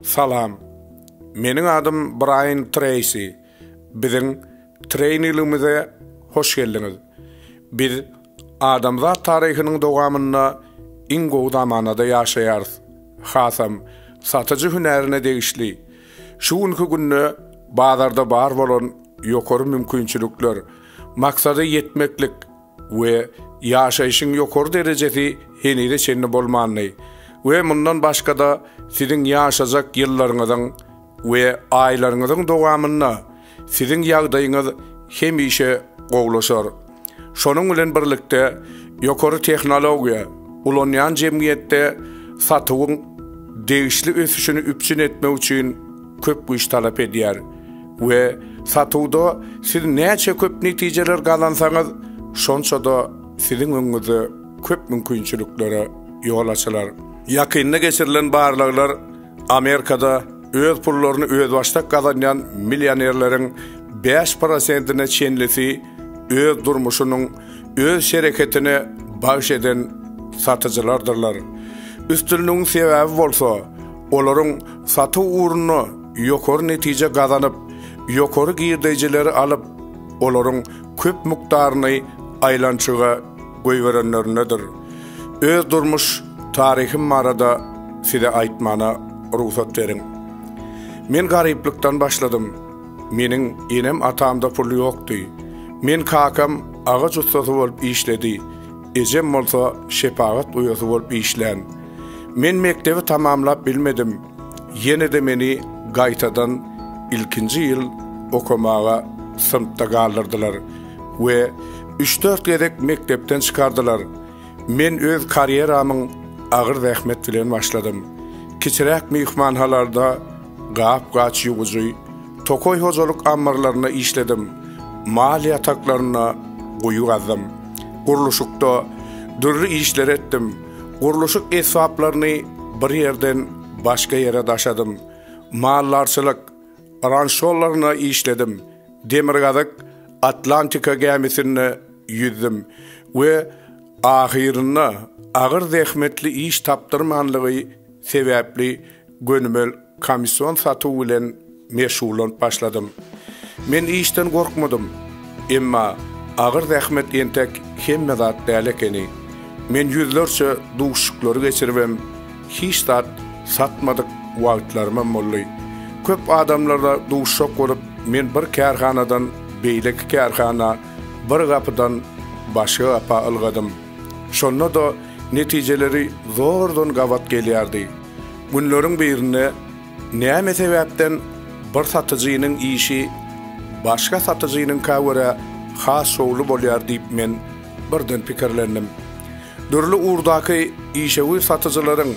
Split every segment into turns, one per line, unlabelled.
Salam. Meniň adym Braýan Treýsi. Biziň treýningimize hoş geldiňiz. Biz adamzat taryhynyň dowamynda iň gowy zamanada ýaşaýarys. Hasam, satyjy hünärine degişli. Şu günki günde bazarda bar bolan ýokary mümkinçilikler, maksada ýetmeklik, we ýaşaýşyň ýokary derejesi henize çenli bolmandy we mundan başga-da siziň ýaşajak ýyllaryňyzyň we aýlaryňyzyň dowamynda siziň ýagdaýyňyz hemişe gowlaşar. Şonuň bilen birlikde, ýokary tehnologiýa ulanýan jemgyýetde satuwyň degişli ösüşini üpjün etmek üçin köp güýç talap edýär we satuwda siz näçe köp netijeler gazansaňyz, şonça-da siziň öňüňizde köp mümkinçiliklere ýol açylar. Ýakynda geçirilen barlaglar Amerikada öz pullaryny özbaşdak gazanýan millionerleriň bäş prosentine çenlisi öz durmuşynyň öz şereketine bagyş eden satyjylardyrlar. Üstünligiň sebäbi bolsa, Olaryň satuw ugrunda ýokary netije gazanyp, ýokary girdeýjileri alyp, olaryň köp mukdaryny aýlançyga goýberenlerindedir. Öz durmuş taryhym barada size aýtmana rugsat beriň. Men garyplykdan başladym. Meniň enem-atamda pul ýokdy. Men kakam agaç ussasy bolup işledi. Ejem bolsa şepagat uýasy bolup işlän. Men mekdebi tamamlap bilmedim. Ýene-de meni gaýtadan ilkinji ýyl okamaga synpda galdyrdylar we üç-dört gezek mekdepden çykardylar. Men öz karýeramyň agyr zähmet bilen başladym. Kiçiräk myhmanhalarda gap-gaç ýuwujy, tokaý hojalyk ammarlarynda işledim, mal ýataklarynda guýy gazdym. gurluşykda dürli işleri etdim. Gurluşyk esbaplaryny bir ýerden başga ýere daşadym. Maldarçylyk, rançolaryna işledim. Demirgazyk Atlantika gämisinde ýüzdüm we ahyrynda agyr zähmetli iş tapdyrmanlygy sebäpli Gönümel komissiýon satuw bilen meşgullanyp başladym. Men işden gorkmadym. Emma agyr zähmet entek hemme zat däl ekeni. Men ýüzlerçe duşuşyklary geçiribem, hiç zat satmadyk wagtlarymam boldy. Köp adamlarla duşuşak bolup, men bir kärhanadan beýleki kärhana, bir gapydan başga gapa ylgadym. Şonda-da netijeleri zordan gabat gelýärdi. Günleriň birinde näme sebäpden bir satyjynyň işi başga satyjynyňka görä has şowly bolýar diýip men birden pikirlendim. Dürli ugurdaky işewür satyjylaryň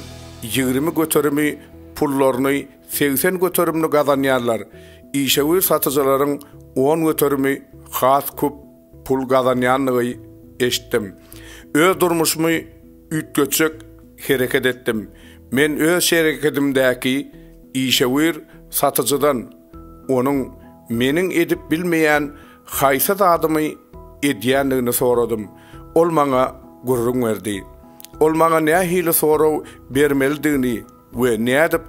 ýigrimi göterimi pullaryny segsen göterimini gazanýarlar, işewür satyjylaryň on göterimi has köp Pul gazanýandygy eşitdim. Öz durmuşymy üýtgetjek hereket etdim. Men öz şerekedimdäki işewür satyjydan onuň meniň edip bilmeýän haýsy zadymy edýändigini soradym. Ol maňa gürrüň berdi. Ol maňa nähili sorag bermelidigini we nädip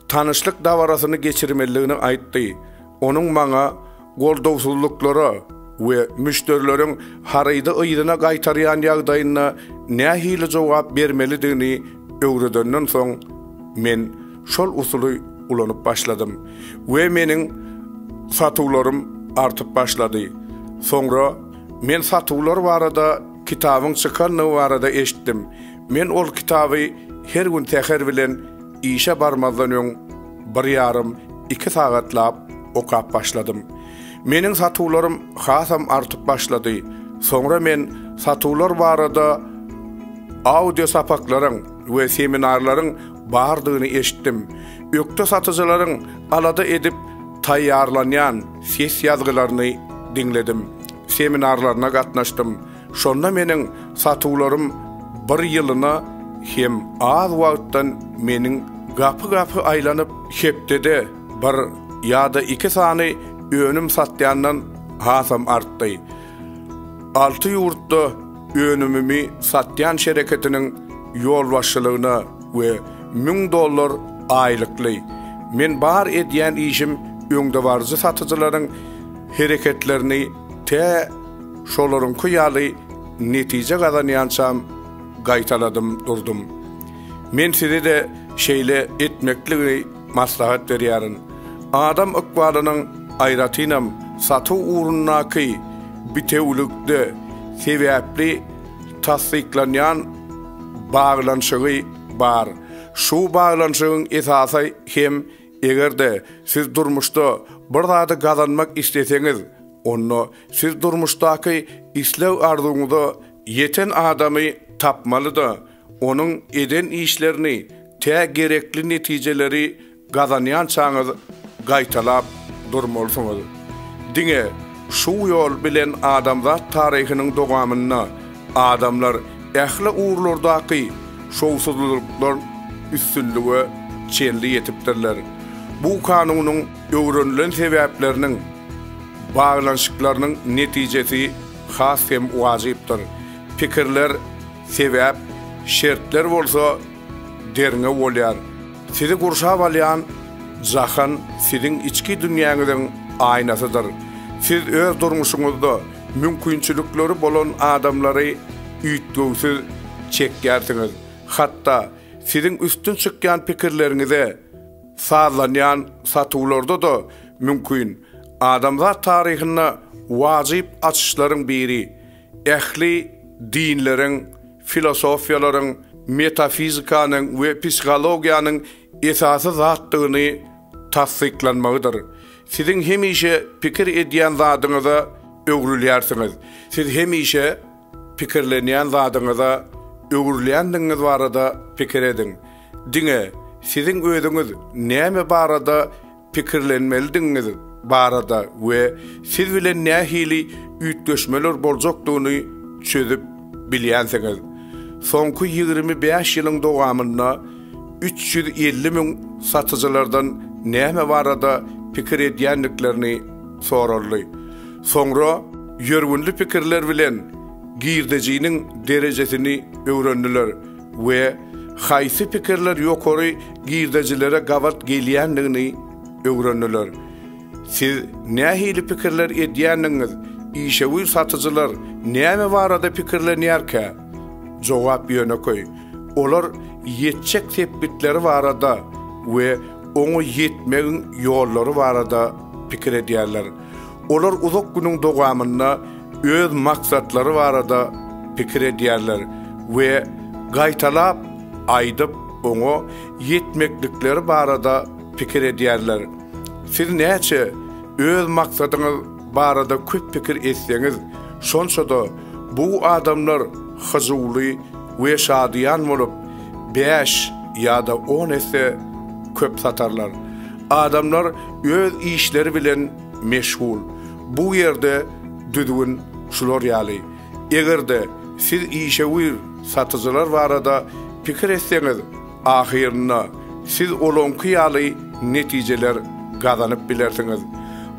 tanyşlyk dabarasyny geçirmelidigini aýtdy. Onuň maňa goldawsyzlyklara we müşderileriň harydy yzyna gaýtarýan ýagdaýynda nähili jogap bermelidigini öwredenden soň, men şol usuly ulanyp başladym we meniň satuwlarym artyp başlady. Soňra men satuwlar barada kitabyň çykandygy barada eşitdim. Men ol kitaby her gün säher bilen işe barmazdan öň bir ýarym, iki sagatlap okap başladym. Meniň satuwlarym hasam artyp başlady. Soňra men satuwlar barada audio sapaklaryň we seminarlaryň bardygyny eşitdim. Ökde satyjylaryň alada edip taýýarlanýan ses ýazgylaryny diňledim. Seminarlaryna gatnaşdym. Şonda meniň satuwlarym bir ýylyna hem az wagtdan meniň gapy-gapy aýlanyp, hepdede bir ýa-da iki sany önüm satýandan hasam artdy. Alty ýurtda önümimi satýan şereketiniň ýolbaşçylygyna we müň dollar aýlykly, men bar edýän işim öňdebaryjy satyjylaryň hereketlerini Tä şolaryňky ýaly netije gazanýançam gaýtaladym durdum. Men size-de şeýle etmekligi maslahat berýärin. Adam ykbalynyň, aýratynam, satuw ugrundaky bitewülikde sebäpli tassyklanýan baglanyşygy bar. Şu baglanyşygyň esasy hem Eger-de siz durmuşda bir zady gazanmak isleseňiz, onda siz durmuşdaky isleg-arzuwyňyza ýeten adamy tapmaly-da, onuň eden işlerini tä gerekli netijeleri gazanýançaňyz gaýtalap durmalysyňyz. Diňe şu ýol bilen adamzat taryhynyň dowamynda adamlar Ähli ugurlardaky şowsuzlylyklar üstünlige çenli ýetipdirler. Bu kanunyň öwrenilen sebäpleriniň baglanyşyklarynyň netijesi has hem wajypdyr. Pikirler, sebäp, şertler bolsa derňew bolýar. Sizi gurşap alýan jahan siziň içki dünýäňiziň aýnasydyr. Siz öz durmuşyňyzda, Mümkinçilikleri bolan adamlary üýtgewsiz çekýärsiňiz. Hatda siziň üstün çykýan pikirleriňize sazlanýan satuwlarda-da mümkin. Adamzat taryhynda wajyp açyşlaryň biri, ähli dinleriň, filosofiýalaryň, metafizikanyň we psihologiýanyň esasy zatdygyny tassyklanmagydyr. Siziň hemişe pikir edýän zadyňyza öwrülýärsiňiz. Siz hemişe pikirlenýän zadyňyza öwrülýändigiňiz barada pikir ediň. Diňe siziň özüňiz näme barada pikirlenmelidigiňiz barada we siz bilen nähili üýtgeşmeler boljakdygyny çözüp bilýänsiňiz. Soňky ýigrimi bäş ýylyň dowamynda, üç ýüz elli müň satyjylardan näme barada pikir edýändiklerini soraldy. Soňra ýörgünli pikirler bilen girdejiniň derejesini öwrendiler we haýsy pikirler ýokary girdejilere gabat gelýändigini öwrendiler. Siz nähili pikirler edýändigiňiz, işewür satyjylar näme barada pikirlenýärkä? Jogap ýönekeý, olar ýetjek sepgitleri barada we oňa ýetmegiň ýollary barada pikir edýärler. Olar uzak günüň dowamynda öz maksatlary barada pikir edýärler we gaýtalap aýdyp, oňa ýetmeklikleri barada pikir edýärler. Siz näçe öz maksadyňyz barada köp pikir etseňiz, şonça-da Bu adamlar hyjuwly we şadyýan bolup, bäş ýa-da on esse köp satarlar. Adamlar öz işleri bilen meşgul. Bu ýerde düzgün şular ýaly. Eger-de siz işewür satyjylar barada pikir etseňiz, Ahyrynda siz olaňky ýaly netijeler gazanyp bilersiňiz.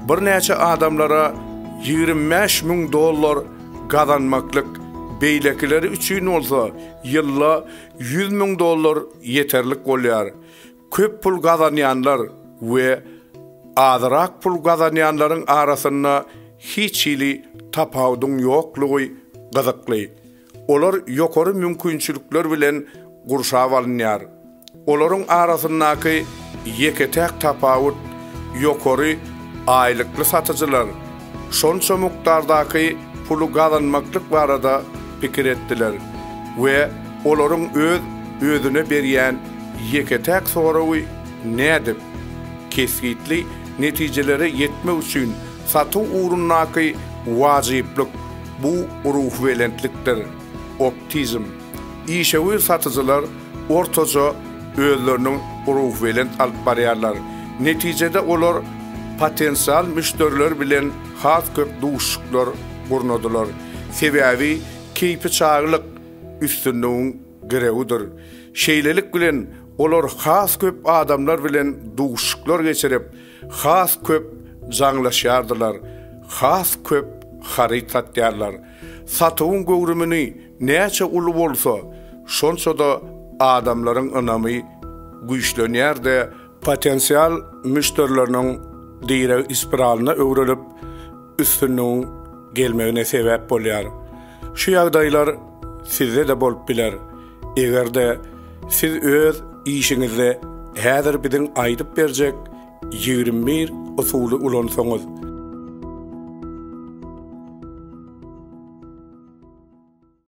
Birnäçe adamlara ýigrimi bäş müň dollar gazanmaklyk, beýlekileri üçin bolsa ýylda ýüz müň dollar ýeterlik bolýar. Köp pul gazanýanlar we azyrak pul gazanýanlaryň arasynda hiç hili tapawudyň ýoklugy gyzykly. Olar ýokary mümkinçilikler bilen gurşap alynýar. Olaryň arasyndaky ýeke-täk tapawut, ýokary aýlykly satyjylar şonça mukdardaky puly gazanmaklyk barada pikir etdiler we olaryň öz özüne berýän ýeke-täk soragy nädip, kesgitli netijelere ýetmek üçin Satuw ugrundaky wajyplyk bu ruhubelentlikdir, optizm. Işewür satyjylar ortaça özlerini ruhubelent alyp barýarlar. Netijede olar potensial müşderiler bilen has köp duşuşyklar gurnadylar. Sebäbi keýpi çaglyk üstünligiň girewidir. Şeýlelik bilen, olar has köp adamlar bilen duşuşyklar geçirip, Has köp jaňlaşýardylar, has köp haryt satýarlar. Satuwyň göwrümini näçe uly bolsa, şonça-da adamlaryň ynamy güýçlenýärdi, potensial müşderileriniň direg ispiralyna öwrülip, üstünligiň gelmegine sebäp bolýar. Şu ýagdaýlar sizde-de bolup biler. Eger-de siz öz işiňizde häzir biziň aýdyp berjek ýigrimi bir usuly ulansaňyz,